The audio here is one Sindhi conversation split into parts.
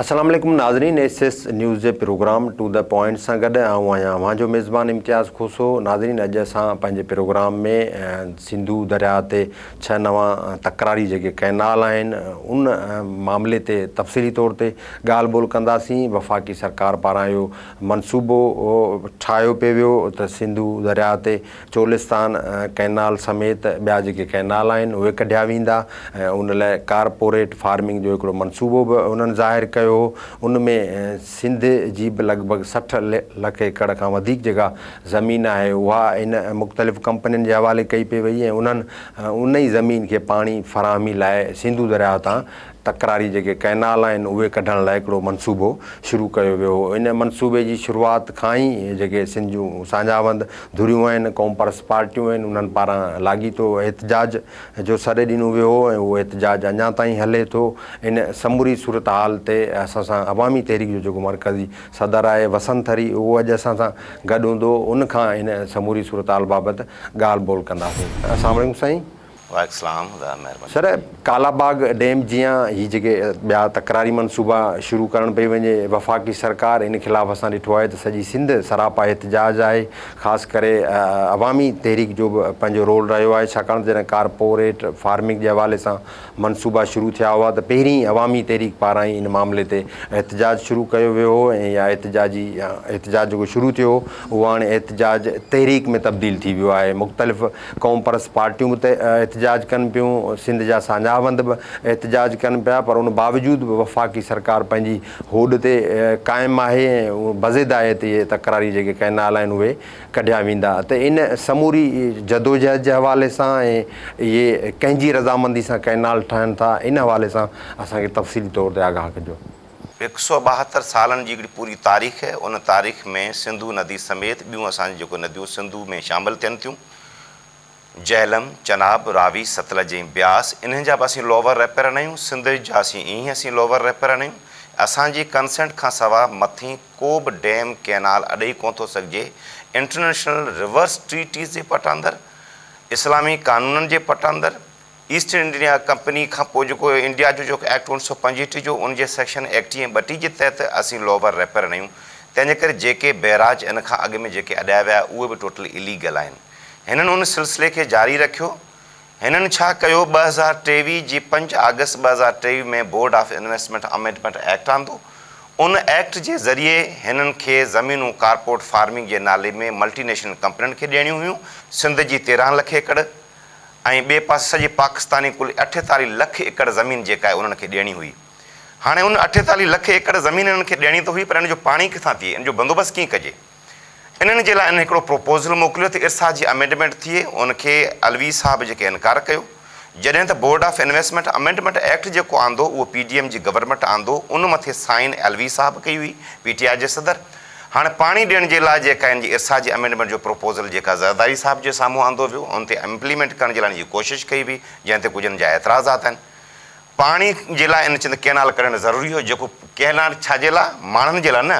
السلام عليڪم ناظرين ايس ايس نيوز جي پروگرام ٽو دي پوائنٽ سان گڏ آئون آهيان اوهان جو ميزبان امتياز کوسو ناظرين اڄ اسان پنهنجي پروگرام ۾ سنڌو درياء تي ڇهه نوان تڪراري جيڪي ڪئنال آهن ان معاملي تي تفصيلي طور تي ڳالهه ٻولهه ڪنداسين وفاقي سرڪار پاران اهو منصوبو ٺاهيو پيو ويو ته سنڌو درياء تي چولستان ڪئنال سميت ٻيا جيڪي ڪئنال آهن اهي ڪڍيا ويندا ۽ ان لاء ڪارپوريٽ فارمنگ جو هڪڙو منصوبو به انهن ظاهر ڪيو هو ان ۾ سنڌ جي به لڳ ڀڳ سٺ لک ايڪڙ کان وڌيڪ جيڪا زمين آهي اها ان مختلف ڪمپنين جي حوالي ڪئي پئي وئي ۽ انهن ان ئي زمين کي پاڻي فراهمي لاء سنڌو درياهه تان تڪراري جيڪي ڪئنال آهن اهي ڪڍڻ لاء هڪڙو منصوبو شروع ڪيو ويو هو ان منصوبي جي شروعات کان ئي جيڪي سنڌ جون ساڃاهوند ڌريون آهن قومپرست پارٽيون آهن انهن پاران لاڳيتو احتجاج جو سڏ ڏنو ويو هو ۽ اهو احتجاج اڃا تائين هلي ٿو ان سموري صورتحال تي اسان سان عوامي تحريڪ جو جيڪو مرڪزي صدر آهي وسند ٿري اهو اڄ اسان سان گڏ هوندو ان کان ان سموري صورتحال بابت ڳالهه ٻولهه ڪنداسين. اسلام عليڪم سائين. وعليڪم سلام ذرا مهرباني. سر ڪالا باغ ڊيم جيان هي جيڪي ٻيا تڪراري منصوبا شروع ڪرڻ پئي وڃي وفاقي سرڪار ان خلاف اسان ڏٺو آهي ته سڄي سنڌ سراپا احتجاج آهي خاص ڪري عوامي تحريڪ جو به پنهنجو رول رهيو آهي ڇاڪاڻ ته جڏهن ڪارپوريٽ فارمنگ جي حوالي سان منصوبا شروع ٿيا هئا ته پهرين ئي عوامي تحريڪ پاران ئي ان معاملي تي احتجاج شروع ڪيو ويو هو ۽ اها احتجاجي احتجاج جيڪو شروع ٿيو هو اهو هاڻي احتجاج تحريڪ ۾ تبديل ٿي ويو آهي مختلف قومپرست پارٽيون به احتجاج ڪن پيون، سنڌ جا ساڃاهوند به احتجاج ڪن پيا پر ان باوجود به وفاقي سرڪار پنهنجي هوڏ تي قائم آهي ۽ بضد آهي ته اهي تڪراري جيڪي ڪئنال آهن اهي ڪڍيا ويندا ته ان سموري جدوجهد جي حوالي سان ۽ اهي ڪنهن جي رضامندي سان ڪئنال ٺهن ٿا ان حوالي سان اسان کي تفصيلي طور تي آگاهه ڪجو. هڪ سؤ ٻاهتر سالن جي هڪڙي پوري تاريخ آهي، ان تاريخ ۾ سنڌو ندي سميت ٻيون اسان جون جيڪو نديون سنڌو ۾ شامل ٿين ٿيون، جهلم، چناب، راوي، ستلج ۽ بياس، انهن جا به اسين لوور ريپيرن آهيون، سندج جا سين ايئن ئي اسين لوور ريپيرن آهيون، اسان جي ڪنسنٽ کان سوا مٿين ڪو به ڊيم، ڪئنال اڏئي ڪونه ٿو سگهجي، انٽرنيشنل ريورس ٽريٽيز جي پٽ اندر، اسلامي قانونن جي پٽ اندر، ايسٽ انڊيا ڪمپني کان پوء جيڪو انڊيا جو جيڪو ايڪٽ اڻ سؤ پنجهٺ جو ان جي سيڪشن ايڪٽي ۽ ٻٽي جي تحت اسين لوور ريپيئر نيون تنهن جي ڪري جيڪي بئراج ان کان اڳ ۾ جيڪي اڏايا ويا اهي به ٽوٽل اليگل آهن هنن ان سلسلي کي جاري رکيو هنن ڇا ڪيو ٻه هزار ٽيويهه جي پنج آگسٽ ٻه هزار ٽيويهه ۾ board of investment amendment act آندو ان ايڪٽ جي ذريعي هنن کي زمينون ڪارپوريٽ فارمنگ جي نالي ۾ ملٽي نيشنل ڪمپنين کي ڏيڻيون هيون سنڌ جي تيرهن لک ايڪڙ ۽ ٻئي پاسي سڄي پاڪستاني ڪل اٺيتاليهه لک ايڪڙ زمين جيڪا آهي انهن کي ڏيڻي هئي. هاڻي ان اٺيتاليهه لک ايڪڙ زمين انهن کي ڏيڻي ته هئي پر ان جو پاڻي ڪٿان ٿئي ان جو بندوبست ڪيئن ڪجي. انهن جي لاء انهن هڪڙو پروپوزل موڪليو ته ارسا جي امينڊمينٽ ٿئي ان کي علوي صاحب جيڪي انڪار ڪيو جڏهن ته board of investment amendment act جيڪو آندو اهو پي ڊي ايم جي گورنمينٽ آندو ان مٿي سائين علوي صاحب ڪئي هئي پي ٽي آء جي صدر هاڻ پاڻي ڏيڻ جي لاء جيڪا هن جي ارسا جي امينڊمينٽ جو پروپوزل جيڪا زرداري صاحب جي سامهون آندو ويو ان تي امپليمينٽ ڪرڻ جي لاء ان جي ڪوشش ڪئي وئي جنهن تي ڪجهن جا اعتراضات آهن پاڻي جي لاء ان چند ڪئنال ڪڍڻ ضروري هو جيڪو ڪئنال ڇا جي لاء ماڻهن جي لاء نه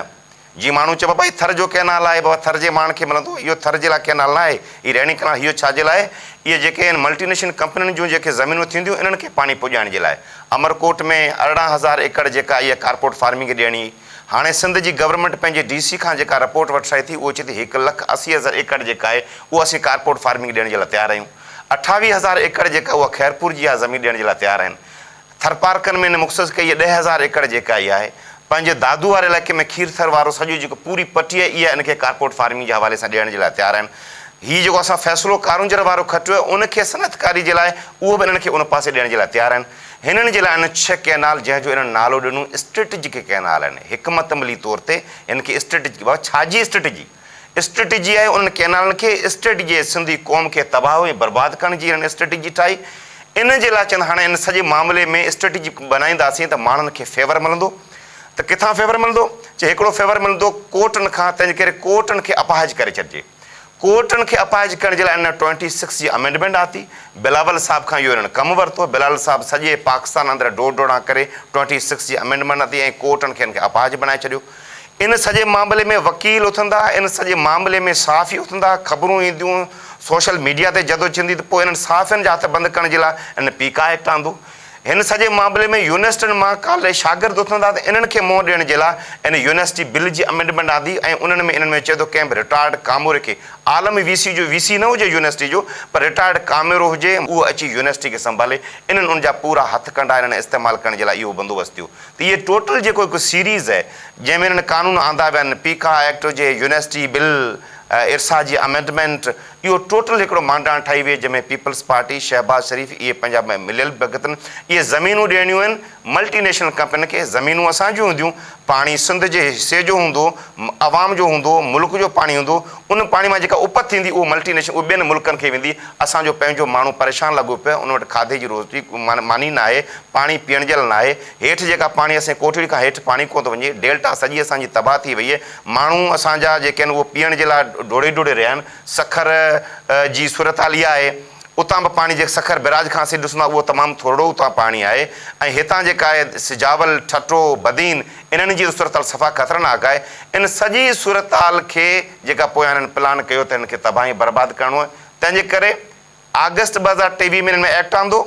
جي ماڻهو چئبا ڀائي ٿر جو ڪئنال آهي بابا ٿر جي ماڻهن کي ملندو اهو ٿر جي لاء ڪئنال نه آهي هي رهڻي ڪئنال هيو ڇا جي لاء اهي جيڪي ان ملٽي نيشنل ڪمپنين جون جيڪي زمينون ٿينديون انهن کي پاڻي پڄائڻ جي لاء امرڪوٽ ۾ ارڙهن هزار ايڪڙ جيڪا اهي ڪارپوٽ فارمنگ ڏيڻي هاڻي سنڌ جي گورنمينٽ پنهنجي ڊي سي کان جيڪا رپورٽ وٺرائي ٿي اهو چئي ٿي هڪ لک اسي هزار ايڪڙ جيڪا آهي اهو اسين ڪارپوريٽ فارمنگ ڏيڻ جي لاء تيار آهيون اٺاويهه هزار ايڪڙ جيڪا اها خيرپور جي آهي زمين ڏيڻ جي لاء تيار آهن ٿرپارڪن ۾ هن مختص ڪئي ڏهه هزار ايڪڙ جيڪا اها آهي پنهنجي دادو واري علائقي ۾ کير ٿر وارو سڄو جيڪو پوري پٽي آهي اها ان کي ڪارپوريٽ فارمنگ جي حوالي سان ڏيڻ جي لاء تيار آهن هي جيڪو اسان فيصلو ڪارونجهر وارو کٽيو آهي ان کي صنعتڪاري جي لاء اهو به انهن کي ان پاسي ڏيڻ جي لاء تيار آهن. هنن جي لاء هن ڇهه ڪئنال جنهن جو هنن نالو ڏنو اسٽريٽجڪ ڪئنال آهن. حڪمت عملي طور تي هن کي اسٽريٽجڪ بابا ڇا جي اسٽريٽجي؟ اسٽريٽجي آهي انهن ڪئنالن کي اسٽريٽجي آهي سنڌي قوم کي تباهه ۽ برباد ڪرڻ جي هنن اسٽريٽجي ٺاهي ان جي لاء چوند هاڻي هن سڄي معاملي ۾ اسٽريٽجي بنائينداسين ته ماڻهن کي فيور ملندو ته ڪٿان فيور ملندو چي هڪڙو فيور ملندو ڪورٽن کان تنهنجي ڪري ڪورٽن کي اپاهج ڪري ڇڏجي. ڪورٽن کي اپاهج ڪرڻ جي لاء ان ٽوئنٽي سڪس جي امينڊمينٽ آتي، بلاول صاحب کان اهو انهن ڪم ورتو، بلاول صاحب سڄي پاڪستان اندر ڊوڙ ڊوڙان ڪري ٽوئنٽي سڪس جي امينڊمينٽ آتي ۽ ڪورٽن کي ان کي اپاهج بنائي ڇڏيو. ان سڄي معاملي ۾ وڪيل اٿندا، ان سڄي معاملي ۾ صحافي اٿندا، خبرون اينديون، سوشل ميڊيا تي جدوجھندي ته پوء انهن صحافين جا هٿ بند ڪرڻ جي لاء ان پي ڪا ايڪٽ آندو. هن سڄي معاملي ۾ يونيورسٽين مان ڪاليج شاگرد اٿن ٿا ته انهن کي منهن ڏيڻ جي لاء ان يونيورسٽي بل جي امينڊمينٽ آندي ۽ انهن ۾ انهن ۾ چئي ٿو ڪنهن به رٽائرڊ ڪاموري کي عالمي وي سي جو وي سي نه هجي يونيورسٽي جو پر رٽائرڊ ڪامورو هجي اهو اچي يونيورسٽي کي سنڀالي انهن ان جا پورا هٿڪنڊا انهن استعمال ڪرڻ جي لاء اهو بندوبست ٿيو ته اهي ٽوٽل جيڪو هڪ سيريز آهي جنهن ۾ انهن قانون آندا ويا آهن پيڪا ايڪٽ هجي يونيورسٽي بل ارسا جي امينڊمينٽ اهو ٽوٽل هڪڙو مانڊاڻ ٺاهي ويئي جنهن ۾ پيپلز پارٽي، شهباز شريف اهي پنهنجا مليل ڀڳتن اهي زمينون ڏيڻيون آهن ملٽي نيشنل ڪمپنين کي زمينون اسان جون هونديون پاڻي سنڌ جي حصي جو هوندو عوام جو هوندو ملڪ جو پاڻي هوندو ان پاڻي مان جيڪا اپت ٿيندي اهو ملٽي نيشنل اهو ٻين ملڪن کي ويندي اسان جو پنهنجو ماڻهو پريشان لڳو پيو ان وٽ کاڌي جي روزي ماني ناهي پاڻي پيئڻ جي لاء ناهي هيٺ جيڪا پاڻي اسين ڪوٺڙي کان هيٺ پاڻي ڪونه ٿو وڃي ڊيلٽا سڄي اسان جي تباهه ٿي وئي ماڻهو اسان جا جيڪي آهن اهو پيئڻ جي لاء ڊوڙي ڊوڙي رهيا آهن. سکر جي صورتحال اها آهي اتان به پاڻي جيڪي سکر بيراج کان اسين ڏسون ٿا اهو تمام ٿورڙو اتان پاڻي آهي ۽ هتان جيڪا آهي سجاول، ٺٽو، بدين انهن جي صورتحال صفا خطرناڪ آهي. ان سڄي صورتحال کي جيڪا پويان هنن پلان ڪيو ته هنن کي تباهه ۽ برباد ڪرڻو آهي تنهن جي ڪري آگسٽ ٻه هزار ٽيويهه ۾ هنن ۾ ايڪٽ آندو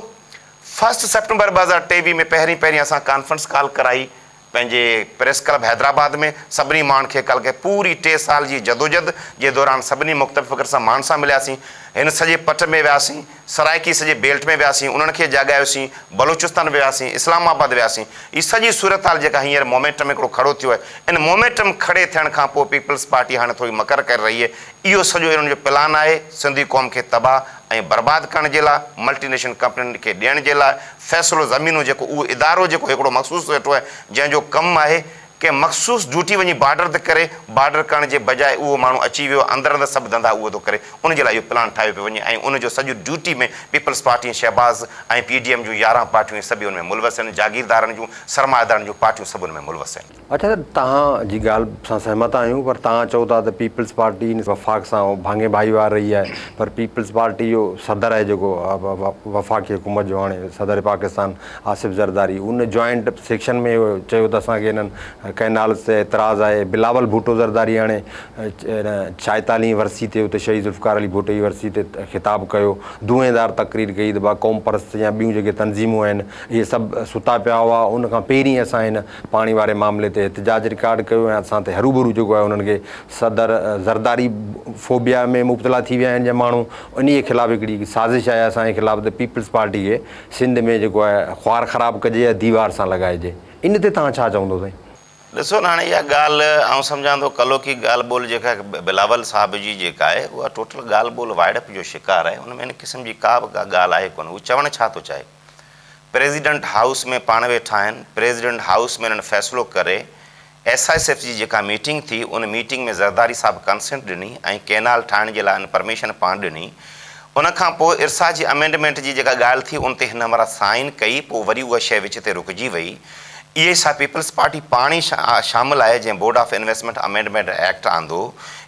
فرسٽ سيپٽمبر ٻه هزار ٽيويهه ۾ پهرين پهرين اسان ڪانفرنس ڪال ڪرائي پنهنجي پريس ڪلب حيدرآباد ۾ سڀني ماڻهن کي ڪلهه کي پوري ٽي سال جي جدوجھد جي دوران سڀني مختلف فڪر سان ماڻهن سان ملياسين هن سڄي پٽ ۾ وياسين سرائڪي سڄي بيلٽ ۾ وياسين انهن کي جاڳايوسين بلوچستان به وياسين اسلام آباد وياسين هي سڄي صورتحال جيڪا هينئر مومينٽم هڪڙو کڙو ٿيو آهي ان مومينٽم کڙي ٿيڻ کان پوء پيپلز پارٽي هاڻي ٿوري مڪر ڪري رهي اهو سڄو انهن جو پلان آهي سنڌي قوم کي تباهه ۽ برباد ڪرڻ جي لاء ملٽي نيشنل ڪمپنين کي ڏيڻ جي لاء فيصلو زمينون جيڪو اهو ادارو جيڪو هڪڙو مخصوص ويٺو آهي جنهن جو ڪم آهي ڪنهن مخصوص ڊيوٽي وڃي بارڊر تي ڪري بارڊر ڪرڻ جي بجاء اهو ماڻهو اچي ويو اندر اندر سڀ ڌنڌا اهو ٿو ڪري ان جي لاء اهو پلان ٺاهيو پيو وڃي ۽ ان جو سڄو duty ۾ Peoples Party ۽ Shahbaz ۽ P D M جون يارهن پارٽيون هي سڀ ان ۾ ملوث آهن جاگيردارن جون سرمائيدارن جون پارٽيون سڀ ان ۾ ملوث آهن. اچا صاحب توهان جي ڳالهه سان سهمت آهيون پر توهان چئو ٿا ته پيپلز پارٽي وفاق سان ڀاڱي ڀائيوار رهي آهي پر پيپلز پارٽي جو صدر آهي جيڪو وفاقي حڪومت جو هاڻي صدر پاڪستان آصف زرداري ان جوائنٽ سيڪشن ۾ هو چيو ته اسان کي انهن ڪئنالز تي اعتراض آهي بلاول ڀٽو زرداري هاڻي ڇائيتاليهين ورسي تي اتي شهيد ذوالفقار علي ڀٽو جي ورسي تي خطاب ڪيو دونهين دار تقرير ڪئي ته با قوم پرست يا ٻيون جيڪي تنظيمون آهن اهي سڀ ستا پيا هئا ان کان پهرين اسان هن پاڻي واري معاملي تي احتجاج رڪارڊ ڪيو ۽ اسان تي هروڀرو جيڪو آهي انهن کي صدر زرداري فوبيا ۾ مبتلا ٿي ويا آهن جا ماڻهو انهي خلاف هڪڙي سازش آهي اسان جي خلاف ته پيپلز پارٽي کي سنڌ ۾ جيڪو آهي خوار خراب ڪجي يا ديوار سان لڳائجي ان تي توهان ڇا چوندو سائين. ڏسو نه هاڻي اها ڳالهه آئون سمجهان ٿو ڪلوڪي ڳالهه ٻولهه جيڪا بلاول صاحب جي جيڪا آهي اها ٽوٽل ڳالهه ٻولهه وائڙپ جو شڪار آهي ان ۾ ان قسم جي ڪا به ڪا ڳالهه آهي ڪونه هو چوڻ ڇا ٿو چاهي. پريزيڊنٽ هائوس ۾ پاڻ ويٺا آهن، پريزيڊنٽ هائوس ۾ هنن فيصلو ڪري ايس ايس ايف جي جيڪا ميٽنگ ٿي ان ميٽنگ ۾ زرداري صاحب ڪنسينٽ ڏني ۽ ڪينال ٺاهڻ جي لاء هن پرميشن پاڻ ڏني ان کان پوء ارسا جي امينڊمينٽ جي جيڪا ڳالهه ٿي ان تي هن همراهه سائين ڪئي پوء وري اها شيء وچ تي رڪجي وئي اهي سا پيپلز پارٽي پاڻ ئي شامل آهي جنهن board of investment amendment act آندو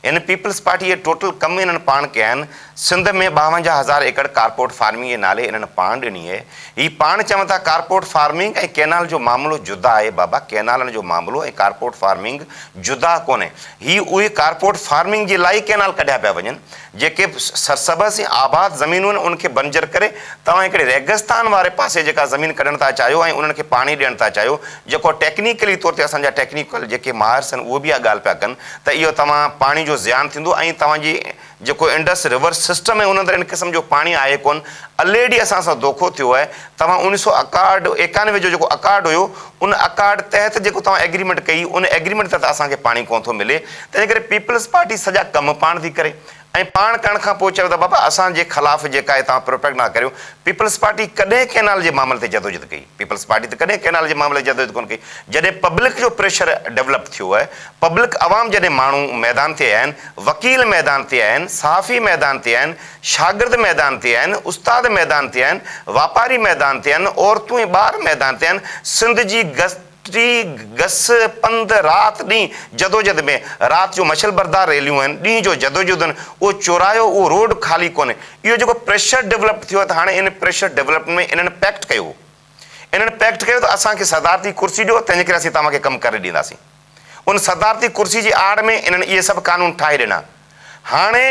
ان پيپلز پارٽي جي ٽوٽل ڪم هنن پاڻ ڪيا آهن سنڌ ۾ ٻاونجاهه هزار ايڪڙ ڪارپوريٽ فارمنگ جي نالي انهن پاڻ ڏني اهي. هي پاڻ چون ٿا ڪارپوريٽ فارمنگ ۽ ڪينال جو معاملو جدا آهي بابا ڪينالن جو معاملو ۽ ڪارپوريٽ فارمنگ جدا ڪونهي هي اهي ڪارپوريٽ فارمنگ جي لاء ئي ڪينال ڪڍيا پيا وڃن جيڪي سرسبز ۽ آباد زمينون آهن ان کي بنجر ڪري توهان هڪڙي ريگستان واري پاسي جيڪا زمين ڪڍڻ ٿا چاهيو ۽ انهن کي پاڻي ڏيڻ ٿا چاهيو جيڪو ٽيڪنيڪلي طور تي اسان جا ٽيڪنيڪل جيڪي ماهرس آهن اهو به اها ڳالهه پيا ڪن ته اهو توهان پاڻي جو زيان ٿيندو ۽ توهان جي جيڪو انڊس ريور سسٽم ۽ ان اندر ان قسم جو پاڻي آهي ڪونه، الريڊي اسان سان دوکو ٿيو آهي، توهان اڻ سؤ اڪاهٺ، ايڪانوي جو جيڪو اڪارڊ هيو، ان اڪارڊ تحت جيڪو توهان ايگريمينٽ ڪئي، ان ايگريمينٽ تحت اسان کي پاڻي ڪونه ٿو ملي، تنهنجي ڪري پيپلز پارٽي سڄا ڪم پاڻ ٿي ڪري ۽ پاڻ ڪرڻ کان پوء چئو ته بابا اسان جي خلاف جيڪا هي توهان پروپيگنڊا ڪريو، پيپلز پارٽي ڪڏهن ڪئنال جي معاملي تي جدوجھد ڪئي؟ پيپلز پارٽي ته ڪڏهن ڪئنال جي معاملي تي جدوجهد ڪونه ڪئي، جڏهن پبلڪ جو پريشر ڊولپ ٿيو آهي، پبلڪ عوام جڏهن ماڻهو ميدان تي آيا آهن، وڪيل ميدان تي آيا آهن، صحافي ميدان تي آيا آهن، شاگرد ميدان تي آيا آهن، استاد ميدان تي آيا آهن، واپاري ميدان تي آيا آهن، عورتون ۽ ٻار ميدان تي آيا آهن، سنڌ جي گسٽي گس پنڌ رات ڏينهن جدوجهد ۾، رات جو مشعل بردار ريليون آهن، ڏينهن جو جدوجهدون، اهو چوراهو اهو روڊ خالي ڪونهي، اهو جيڪو پريشر ڊولپڊ ٿيو ته هاڻي ان پريشر ڊولپڊ ۾ انهن پيڪٽ ڪيو هو انهن پيڪٽ ڪيو ته اسان کي صدارتي ڪرسي ڏيو تنهنجي ڪري اسين توهان کي ڪم ڪري ڏينداسين ان صدارتي ڪرسي جي آڙ ۾ انهن اهي سڀ قانون ٺاهي ڏنا هاڻي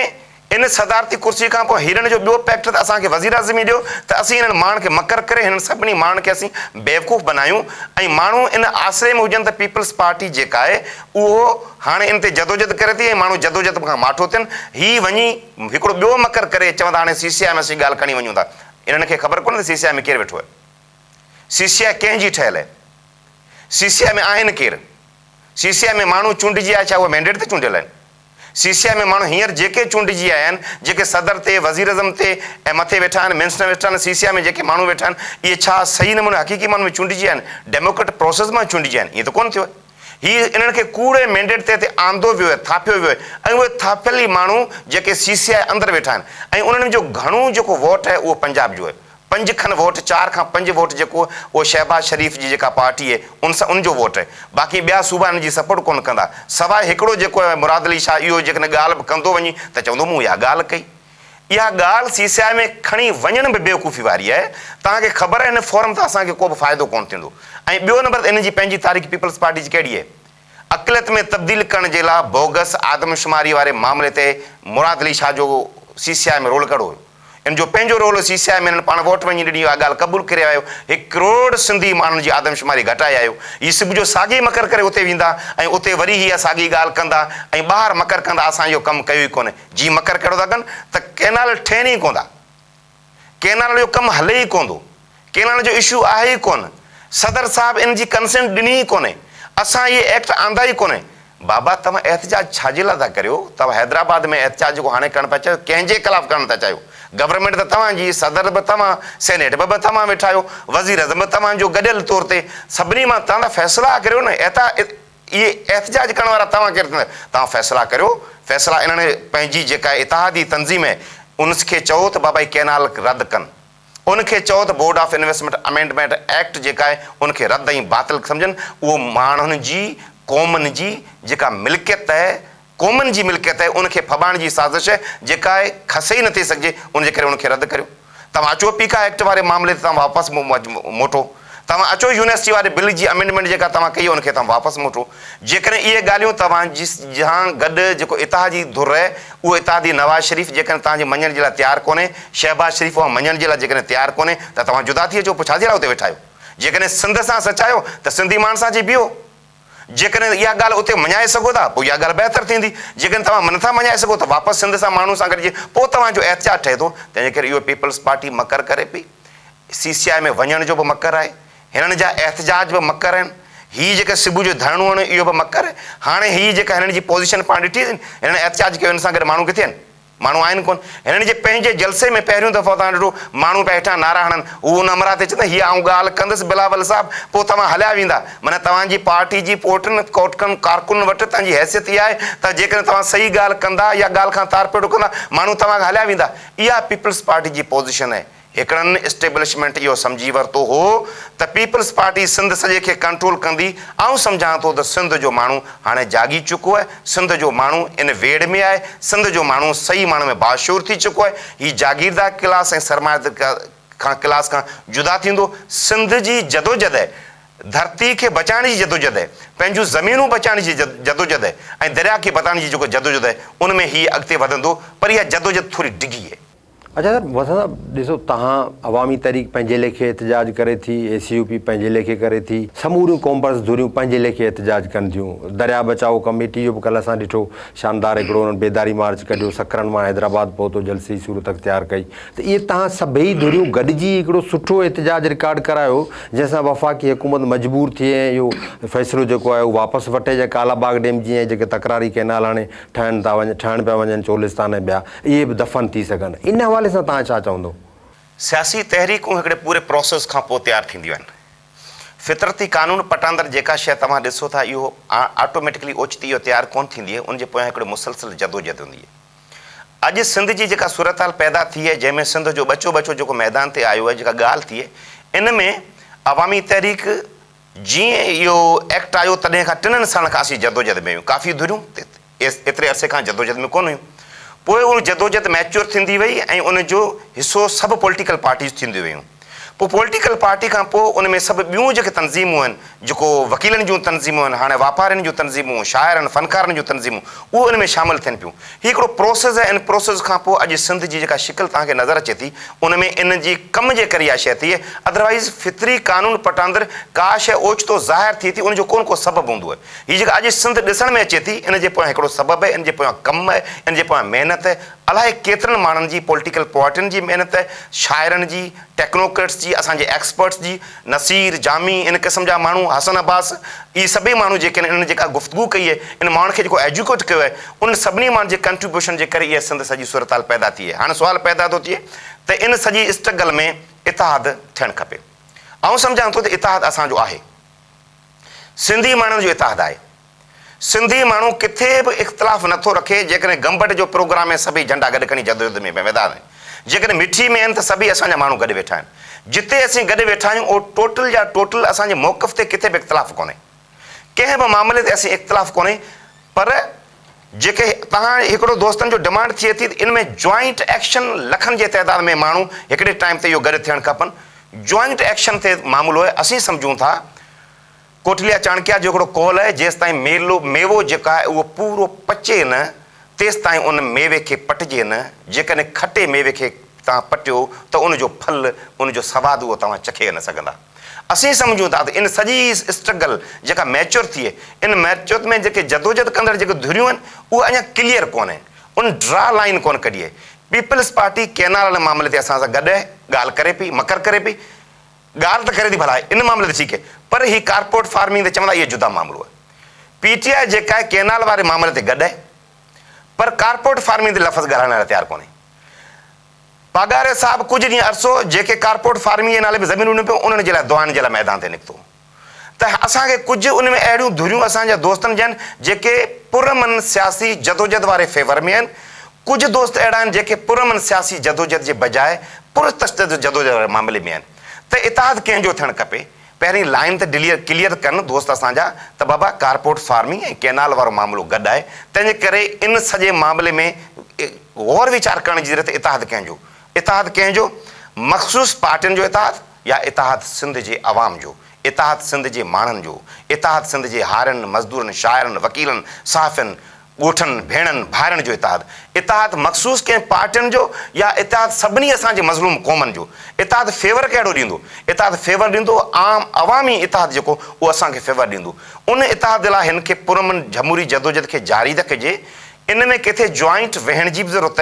ان صدارتي ڪرسي کان پوء هيرن جو ٻيو پيڪٽ ته اسان کي وزيراعظم ئي ڏيو ته اسين انهن ماڻهن کي مڪر ڪري هنن سڀني ماڻهن کي اسين بيوقوف بنايون ۽ ماڻهو ان آسري ۾ هجن ته پيپلز پارٽي جيڪا آهي اهو هاڻي ان تي جدوجھد ڪري ٿي ۽ ماڻهو جدوجھد کان ماٺو ٿين هي وڃي هڪڙو ٻيو مڪر ڪري چون ٿا هاڻي سي سي آء ۾ اسين ڳالهه کڻي وڃون ٿا. انهن کي خبر ڪونهي ته سي سي آء ۾ ڪير ويٺو آهي. سي سي آء ڪنهن جي ٺهيل آهي. سي سي آء ۾ آهن ڪير. سي سي آء ۾ ماڻهو چونڊجي آيا ڇا اهي مينڊيٽ تي چونڊيل آهن. سي سي آء ۾ ماڻهو هينئر جيڪي چونڊجي آيا آهن جيڪي صدر تي وزيراعظم تي ۽ مٿي ويٺا آهن منسٽر ويٺا آهن سي سي آء ۾ جيڪي ماڻهو ويٺا آهن اهي ڇا صحيح نموني حقيقي معنيٰ ۾ چونڊجي آيا آهن ڊيموڪريٽ پروسيس مان چونڊجي آيا آهن ائين ته ڪونهه ٿيو آهي. هي انهن کي ڪوڙي مينڊيٽ تحت آندو ويو آهي، ٿاڦيو ويو آهي ۽ اهي ٿاڦيل ئي ماڻهو جيڪي سي سي آء اندر ويٺا آهن ۽ انهن ۾ جو گهڻو جيڪو ووٽ آهي اهو پنجاب جو آهي. پنج کن ووٽ چار کان پنج ووٽ جيڪو اهو شهباز شريف جي جيڪا پارٽي آهي ان سان ان جو ووٽ آهي. باقي ٻيا صوبا هن جي سپورٽ ڪونه ڪندا سواء هڪڙو جيڪو مراد علي شاهه اهو جيڪڏهن ڳالهه به ڪندو وڃي ته چوندو مون اها ڳالهه ڪئي. اها ڳالهه سي سي آء ۾ کڻي وڃڻ به بيوقوفي واري آهي، توهان کي خبر آهي ان فورم تان اسان کي ڪو به فائدو ڪونه ٿيندو ۽ ٻيو نمبر ته انهن جي پنهنجي تاريخ پيپلز پارٽي جي ڪهڙي اهي اقليت ۾ تبديل ڪرڻ جي لا بوگس آدمشماري واري معاملي تي مراد علي شاهه جو سي سي آء ۾ رول ڪهڙو هيو ان جو پنهنجو رول هو سي سي آء ۾ انهن پاڻ ووٽ وڃي ڏني اها ڳالهه قبول ڪري آيو هڪ ڪروڙ سنڌي ماڻهن جي آدمشماري گهٽائي آيو هي سڀ جو ساڳي مڪر ڪري اتي ويندا ۽ اتي وري هي اها ساڳي ڳالهه ڪندا ۽ ٻاهر مڪر ڪندا اسان اهو ڪم ڪيو ئي ڪونه جي مڪر ڪهڙو ٿا ڪن ته ڪئنال ٺهن ئي ڪوندا، ڪئنال جو ڪم هلي ئي ڪوندو، ڪئنال جو اشو آهي ئي ڪونه، صدر صاحب ان جي ڪنسنٽ ڏني ئي ڪونهي، اسان اهي ايڪٽ آندا ئي ڪونهي. بابا توهان احتجاج ڇا جي لاء ٿا ڪريو؟ توهان حيدرآباد ۾ احتجاج جيڪو هاڻي ڪرڻ پيا چاهيو ڪنهن جي خلاف ڪرڻ ٿا چاهيو؟ گورنمينٽ ته توهان جي، صدر به توهان، سينيٽ ۾ به توهان ويٺا آهيو، وزيراعظم به توهان جو، گڏيل طور تي سڀني مان توهان ٿا فيصلا ڪريو نه احتا. اهي احتجاج ڪرڻ وارا توهان ڪير ٿيندا؟ توهان فيصلا ڪريو، فيصلا انهن پنهنجي جيڪا اتحادي تنظيم هي ان کي چئو ته بابا هي ڪئنال رد ڪن، ان کي چئو ته board of investment amendment act جيڪا هي ان کي رد ۽ باطل سمجهن، اهو ماڻهن جي قومن جي جيڪا ملڪيت هي، قومن جي ملڪيت آهي ان کي ڦٻائڻ جي سازش جيڪا آهي کسي ئي نٿي سگهجي ان جي ڪري ان کي رد ڪريو توهان اچو پيڪا ايڪٽ واري معاملي تي توهان واپس موٽو توهان اچو يونيورسٽي واري بل جي امينڊمينٽ جيڪا توهان ڪئي ان کي توهان واپس موٽو جيڪڏهن اهي ڳالهيون توهان جي سان گڏ جيڪو اتحادي ڌر آهي اهو اتحادي نواز شريف جيڪڏهن توهان جي مڃڻ جي لاء تيار ڪونهي شهباز شريف اوهان مڃڻ جي لاء جيڪڏهن تيار ڪونهي ته توهان جدا ٿي اچو پوء ڇا جي لاء اتي ويٺا آهيو جيڪڏهن سنڌ سان سچ آهيو ته سنڌي ماڻهن سان اچي بيهو جيڪڏهن اها ڳالهه اتي مڃائي سگهو ٿا پوء اها ڳالهه بهتر ٿيندي، جيڪڏهن توهان اها نٿا مڃائي سگهو ته واپس سنڌ سان ماڻهن سان گڏجي پوء توهان جو احتجاج ٺهي ٿو، تنهن جي ڪري اهو پيپلز پارٽي مڪر ڪري پئي، سي سي آء ۾ وڃڻ جو به مڪر آهي، هنن جا احتجاج به مڪر آهن، هي جيڪا صبح جو ڌرڻو هڻيو اهو به مڪر آهي، هاڻي هي جيڪا هنن جي پوزيشن پاڻ ڏٺي اٿن، هنن احتجاج ڪيو هن سان گڏ ماڻهو ڪٿي آهن؟ ماڻهو آهن ڪونه. هنن جي پنهنجي جلسي ۾ پهريون دفعو توهان ڏٺو ماڻهو پيا هيٺان نعرا هڻن. هو ان همراهه تي چوندو هيء آئون ڳالهه ڪندس بلاول صاحب پوء توهان هليا ويندا. معنيٰ توهان جي پارٽي جي پوئٽن ڪوٽڪن ڪارڪنن وٽ توهان جي حيثيت اها آهي ته جيڪڏهن توهان صحيح ڳالهه ڪندا يا ڳالهه کان تارپيڙو ڪندا ماڻهو توهان کان هليا ويندا. اها پيپلز پارٽي جي پوزيشن آهي. هڪڙن اسٽيبلشمينٽ اهو سمجهي ورتو هو ته پيپلز پارٽي سنڌ سڄي کي ڪنٽرول ڪندي، آئون سمجهان ٿو ته سنڌ جو ماڻهو هاڻي جاڳي چڪو آهي، سنڌ جو ماڻهو ان ويڙهه ۾ آهي، سنڌ جو ماڻهو صحيح معنيٰ ۾ باشعور ٿي چڪو آهي، هي جاگيردار ڪلاس ۽ سرمائيدار ڪلاس کان جدا ٿيندو، سنڌ جي جدوجدهه، ڌرتي کي بچائڻ جي جدوجدهه، پنهنجون زمينون بچائڻ جي جدوجدهه ۽ درياء کي بتائڻ جي جيڪو جدوجدهه آهي، ان ۾ هي اڳتي وڌندو، پر اها جدوجدهه ٿوري ڊگهي آهي. اچا صاحب وسان صاحب ڏسو تهان عوامي تحريڪ پنهنجي ليکي احتجاج ڪري ٿي اي سي يو پي پنهنجي ليکي ڪري ٿي سموريون قومپرست ڌريون پنهنجي ليکي احتجاج ڪن ٿيون دريا بچائو ڪميٽي جو به ڪلهه اسان ڏٺو شاندار هڪڙو انهن بيداري مارچ ڪڍيو سکرن مان حيدرآباد پهتو جلسي جي صورت اختيار ڪئي ته اهي تهان سڀئي ڌريون گڏجي هڪڙو سٺو احتجاج رڪارڊ ڪرايو جنهن سان وفاقي حڪومت مجبور ٿئي ۽ اهو فيصلو جيڪو آهي اهو واپس وٺي جا ڪالا باغ ڊيم جي ۽ جيڪي تڪراري ڪئنال هاڻي ٺهن ٿا وڃن ٺهڻ پيا وڃن چولستان ۽ ٻيا اهي به دفن ٿي سگهن ان حوالي سان توهان ڇا چوندو؟ سياسي تحريڪون هڪڙي پوري پروسيس کان پوء تيار ٿينديون آهن. فطرتي قانون پٽاندر جيڪا شيء توهان ڏسو ٿا اهو آٽوميٽڪلي اوچتي جو تيار ڪونه ٿيندي ان جي پويان هڪڙي مسلسل جدوجهد هوندي آهي. اڄ سنڌ جي جيڪا صورتحال پيدا ٿي آهي جنهن ۾ سنڌ جو ٻچو ٻچو جيڪو ميدان تي آيو آهي جيڪا ڳالهه ٿي آهي ان ۾ عوامي تحريڪ جيئن اهو ايڪٽ آيو تڏهن کان ٽنن سالن کان اسين جدوجهد ۾ آهيون، ڪافي ڌريون ايتري عرصي کان جدوجهد ۾ ڪونه هيون، پوء اها جدوجهد ميچيور ٿيندي وئي ۽ ان جو حصو سڀ پوليٽيڪل پارٽيز ٿينديون ويون، پوء پوليٽيڪل پارٽي کان پوء ان ۾ سڀ ٻيون جيڪي تنظيمون آهن، جيڪو وڪيلن جون تنظيمون آهن، هاڻي واپارين جون تنظيمون، شاعرن، فنڪارن جون تنظيمون اهو ان ۾ شامل ٿين پيون. هي هڪڙو پروسيس آهي، ان پروسيس کان پوء اڄ سنڌ جي جيڪا شڪل توهان کي نظر اچي ٿي، ان ۾ ان جي ڪم جي ڪري اها شيء ٿئي، اڌروائيز فطري قانون پٽاندر ڪا شيء اوچتو ظاهر ٿئي ٿي، ان جو ڪو نه ڪو سبب هوندو آهي. هي جيڪا اڄ سنڌ ڏسڻ ۾ اچي ٿي، ان جي پويان هڪڙو سبب آهي، ان جي پويان ڪم آهي، ان جي پويان محنت آهي، الائي ڪيترن ماڻهن جي، پوليٽيڪل پارٽين جي محنت آهي، شاعرن جي، ٽيڪنوڪريٽس جي، اسان جي ايڪسپرٽس جي، نصير، جامي، ان قسم جا ماڻهو، حسن عباس، اهي سڀئي ماڻهو جيڪي آهن، انهن جيڪا گفتگو ڪئي آهي، ان ماڻهن کي جيڪو ايجوڪيٽ ڪيو آهي، انهن سڀني ماڻهن جي ڪنٽريبيوشن جي ڪري اها سنڌ سڄي صورتحال پيدا ٿي آهي. هاڻ سوال پيدا ٿو ٿئي ته ان سڄي اسٽرگل ۾ اتحاد ٿيڻ کپي. آئون سمجهان ٿو ته اتحاد اسان جو آهي. سنڌي ماڻهن جو اتحاد آهي. سنڌي ماڻهو ڪٿي به اختلاف نه ٿو رکي، جيڪڏهن گمبٽ جو پروگرام ۾ سڀئي جهنڊا گڏ کڻي جدوجهد ۾ ميدان آهن، جيڪڏهن مٺي ۾ آهن ته سڀئي اسان جا ماڻهو گڏ ويٺا آهن. جتي اسين گڏ ويٺا آهيون اهو ٽوٽل جا ٽوٽل اسان جي موقف تي ڪٿي به اختلاف ڪونهي. ڪنهن به معاملي تي اسين اختلاف ڪونهي پر جيڪي تهان هڪڙو دوستن جو ڊمانڊ ٿئي ٿي ته ان ۾ جوائنٽ ايڪشن لکن جي تعداد ۾ ماڻهو هڪڙي ٽائيم تي اهو گڏ ٿيڻ کپن جوائنٽ ايڪشن تي معاملو آهي اسين سمجهون ٿا ڪوٽليا چاڻڪيا جو هڪڙو قول آهي جيستائين ميلو ميوو جيڪا آهي اهو پورو پچي نه تيستائين ان ميوي کي پٽجي نه جيڪڏهن کٽي ميوي کي تهان پٽيو ته ان جو ڦل ان جو سواد اهو توهان چکي نه سگهندا. اسين سمجهون ٿا ته ان سڄي اسٽرگل جيڪا ميچور ٿئي، ان ميچور ۾ جيڪي جدوجھد ڪندڙ جيڪي ڌريون آهن، اهي اڃا ڪليئر ڪونهن، ان ڊرا لائين ڪونه ڪڍي آهي. پيپلز پارٽي ڪينال واري معاملي تي اسان سان گڏ آهي، ڳالهه ڪري پئي، مڪر ڪري پئي، ڳالهه ته ڪري ٿي ڀلا ان معاملي تي ٺيڪ آهي، پر هي ڪارپوريٽ فارمنگ تي چوندا اهي جدا معاملو آهي. پي ٽي آء جيڪا آهي ڪينال واري معاملي تي گڏ آهي، پر ڪارپوريٽ فارمنگ تي لفظ ڳالهائڻ لاء تيار ڪونهي. پاڳاري صاحب ڪجهه ڏينهن عرصو جيڪي ڪارپورٽ فارمنگ جي نالي به زمينون ڏنيون پيون انهن جي لاء دعائن جي لاء ميدان تي نڪتو ته اسان کي ڪجهه ان ۾ اهڙيون ڌريون اسان جا دوستن ڏين جيڪي پرامن سياسي جدوجھد واري فيور ۾ آهن ڪجهه دوست اهڙا آهن جيڪي پرامن سياسي جدوجھد جي بجاء پرتشدد جدوجھد واري معاملي ۾ آهن ته اتحاد ڪنهن جو ٿيڻ کپي پهرين لائين ته ڊليئر ڪليئر ڪن دوست اسان جا ته بابا ڪارپورٽ فارمنگ ۽ ڪينال وارو معاملو گڏ آهي تنهن جي ڪري ان سڄي معاملي ۾ غور ويچار ڪرڻ جي ضرورت اتحاد ڪنهن جو اتحاد ڪنهن جو مخصوص پارٽين جو اتحاد يا اتحاد سنڌ جي عوام جو اتحاد سنڌ جي ماڻهن جو اتحاد سنڌ جي هارين مزدورن شاعرن وڪيلن صحافين ڳوٺن، ڀيڻن، ڀائرن جو اتحاد، اتحاد مخصوص ڪنهن پارٽين جو يا اتحاد سڀني اسان جي مظلوم قومن جو، اتحاد فيور ڪهڙو ڏيندو؟ اتحاد فيور ڏيندو عام عوامي اتحاد جيڪو اهو اسان کي فيور ڏيندو. ان اتحاد لاء هن کي پرامن جھموري جدوجھد کي جاري رکجي، ان ۾ ڪٿي جوائنٽ ويهڻ جي به ضرورت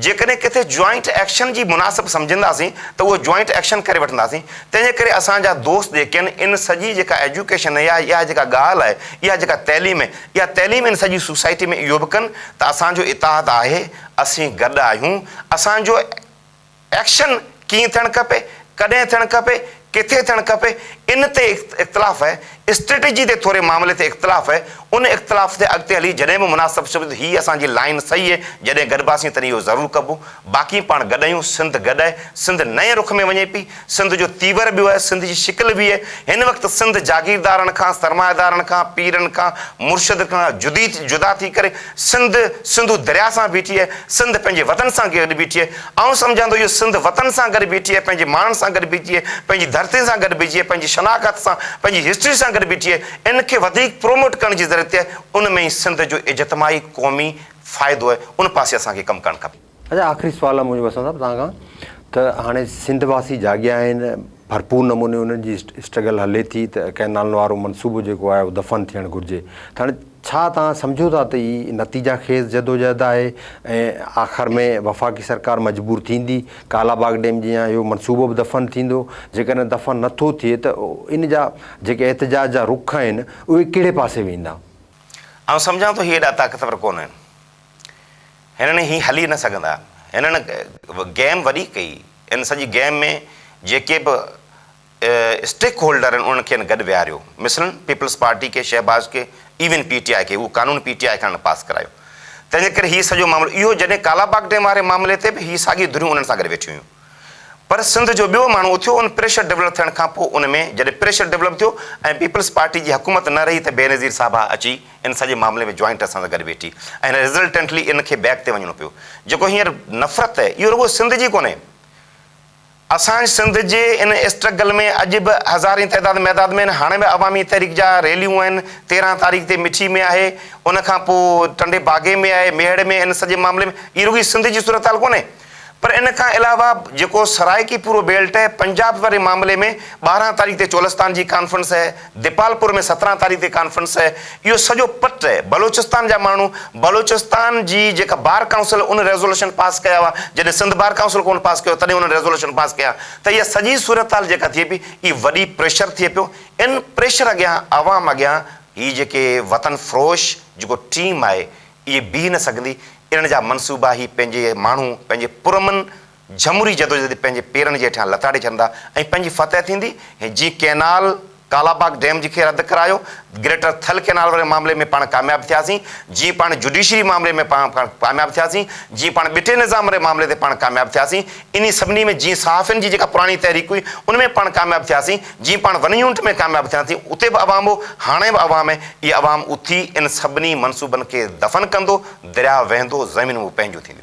جيڪڏهن ڪٿي جوائنٽ ايڪشن جي مناسب سمجهنداسين ته اهو جوائنٽ ايڪشن ڪري وٺنداسين. تنهن جي ڪري اسان جا دوست جيڪين ان سڄي جيڪا ايجوڪيشن يا اها جيڪا ڳالهه آهي، اها جيڪا تعليم آهي، اها تعليم ان سڄي سوسائٽي ۾ اهو به ڪن ته اسان جو اتحاد آهي، اسين گڏ آهيون، اسان جو ايڪشن. ڪيئن ٿيڻ کپي، ڪڏهن ٿيڻ کپي، ڪٿي ٿيڻ کپي، ان تي اختلاف آهي، اسٽريٽجي تي ٿوري معاملي تي اختلاف آهي، ان اختلاف تي اڳتي هلي جڏهن به مناسب ثبت هي اسان جي لائين صحيح هي، جڏهن گڏباسين تڏهن اهو ضرور ڪبو، باقي پاڻ گڏ آهيون، سنڌ گڏ آهي، سنڌ نئين رخ ۾ وڃي پئي، سنڌ جو تيور ٻيو آهي، سنڌ جي شڪل ٻي آهي، هن وقت سنڌ جاگيردارن کان، سرمائيدارن کان، پيرن کان، مرشدن کان جدي جدا ٿي ڪري سنڌ سنڌو درياء سان بيٺي آهي، سنڌ پنهنجي وطن سان گڏ بيٺي آهي، آئون سمجهان ٿو اهو سنڌ وطن سان گڏ بيٺي آهي، پنهنجي ماڻهن سان گڏ بيٺي آهي، پنهنجي ڌرتين سان گڏ بيٺي آهي، پنهنجي شناخت سان، پنهنجي هسٽري سان گڏ بيٺي آهي، ان کي وڌيڪ پروموٽ ڪرڻ جي ضرورت آهي، ان ۾ ئي سنڌ جو اجتماعي قومي فائدو آهي، ان پاسي اسان کي ڪم ڪرڻ کپي. اچا آخري سوال منهنجو وسند صاحب توهان کان ته هاڻي سنڌ واسي جاڳيا آهن ڀرپور نموني انهن جي اسٽرگل هلي ٿي ته ڪئنالن وارو منصوبو جيڪو آهي اهو دفن ٿيڻ گهرجي ته هاڻي ڇا توهان سمجهو ٿا ته هي نتيجا خيز جدوجهد آهي ۽ آخر ۾ وفاقي سرڪار مجبور ٿيندي؟ ڪالا باغ ڊيم جي يا اهو منصوبو به دفن ٿيندو؟ جيڪڏهن دفن نه ٿو ٿئي ته ان جا جيڪي احتجاج جا رخ آهن اهي ڪهڙي پاسي ويندا؟ آئون سمجهان ٿو هي ايڏا طاقتور ڪونه آهن. هنن هي هلي نه سگهندا. هنن گيم وڏي ڪئي. ان سڄي گيم ۾ جيڪي به اسٽيڪ هولڊرن انهن کين گڏ ويهاريو، مثلاً پيپلز پارٽي کي، شهباز کي، ايون پي ٽي آء کي، اهو قانون پي ٽي آء کان نه پاس ڪرايو. تنهن جي ڪري هي سڄو معاملو اهو جڏهن ڪالا باغ ڊيم واري معاملي تي به هي ساڳيون ڌريون انهن سان گڏ ويٺيون هيون پر سنڌ جو ٻيو ماڻهو اٿيو ان پريشر ڊولپ ٿيڻ کان پوء ان ۾ جڏهن پريشر ڊولپ ٿيو ۽ پيپلز پارٽي جي حڪومت نه رهي ته بينظير صاحبه اچي ان سڄي معاملي ۾ جوائنٽ اسان سان گڏ ويٺي ۽ رزلٽنٽلي ان کي بيڪ تي وڃڻو پيو جيڪو هينئر نفرت اهو رڳو سنڌ جي ڪونهي اسان سنڌ جي ان اسٽرگل ۾ اڄ به هزارين تعداد ميداد ۾ آهن، هاڻي به عوامي تحريڪ جا ريليون آهن، تيرهن تاريخ تي مٺي ۾ آهي، ان کان پوء ٽنڊي باگي ۾ آهي، ميهڙ ۾ ان سڄي معاملي ۾ اهي رڳي سنڌ جي صورتحال ڪونهي پر ان کان علاوه جيڪو سرائيڪي پورو بيلٽ پنجاب واري معاملي ۾ ٻارهن تاريخ تي چولستان جي ڪانفرنس ديپالپور ۾ سترهن تاريخ تي ڪانفرنس اهي اهو سڄو پٽ اهي بلوچستان جا ماڻهو بلوچستان جي جيڪا بار ڪائونسل ان ريزولوشن پاس ڪيا هئا جڏهن سنڌ بار ڪائونسل ڪونه پاس ڪيو تڏهن انهن ريزولوشن پاس ڪيا ته اها سڄي صورتحال جيڪا ٿئي پئي اهي وڏي پريشر ٿئي پيو ان پريشر اڳيان عوام اڳيان هي جيڪي وطن فروش جيڪو ٽيم آهي اهي بيهي نه سگهندي انهن جا منصوبا هي پنهنجي ماڻهو پنهنجي پرامن جھموري جدوجھد پنھنجي پيرن جي ھيٺيان لتاڙي ڇڏندا ۽ پنھنجي فتح ٿيندي ۽ جيئن ڪئنال ڪالاباغ ڊيم جي کي رد ڪرايو، گريٽر ٿل ڪئنال واري معاملي ۾ پاڻ ڪامياب ٿياسين، جيئن پاڻ جوڊيشري معاملي ۾ پاڻ ڪامياب ٿياسين، جيئن پاڻ ٻٽي نظام واري معاملي تي پاڻ ڪامياب ٿياسين، انھي سڀني ۾ جيئن صحافين جي جيڪا پراڻي تحريڪ ھئي ان ۾ پاڻ ڪامياب ٿياسين، جيئن پاڻ ون يونٽ ۾ ڪامياب ٿيا ٿي اتي به عوام ھو، ھاڻي به عوام آھي، اھي عوام اٿي ان سڀني منصوبن کي دفن ڪندو، درياھ وھندو، زمينون به پنھنجيون ٿينديون.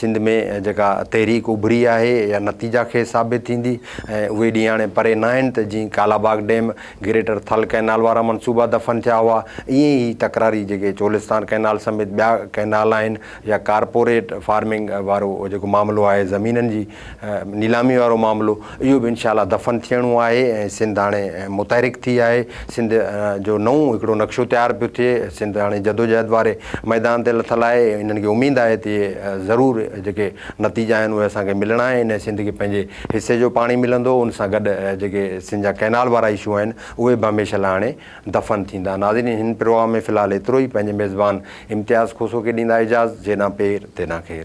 سنڌ ۾ جيڪا تحريڪ اڀري آهي اها نتيجا خيز ثابت ٿيندي ۽ اهي ڏينهن هاڻي پري نه آهن ته جيئن Kala Bagh dam, greater Thal canal وارا منصوبا دفن ٿيا هئا ائين ئي هي تڪراري جيڪي چولستان ڪئنال سميت ٻيا ڪئنال آهن يا ڪارپوريٽ فارمنگ وارو جيڪو معاملو آهي زمينن جي، نيلامي وارو معاملو اهو به انشاء الله دفن ٿيڻو آهي ۽ سنڌ هاڻي متحرڪ ٿي آهي سنڌ جو نئون هڪڙو نقشو تيار پيو ٿئي سنڌ هاڻي جدوجهد واري ميدان تي لٿل آهي انهن کي اميد آهي ته ضرور جيڪي نتيجا آهن اهي اسان کي ملڻا آهن انهي سنڌ کي پنهنجي حصي جو پاڻي ملندو ان سان گڏ جيڪي سنڌ جا ڪئنال وارا اشو آهن اهي به هميشه لاء هاڻي دفن ٿيندا ناظرين هن پروگرام ۾ في الحال ايترو ئي پنهنجي ميزبان امتياز کوسو کي ڏيندا اجازت جيڏانهن پير تيڏانهن خير.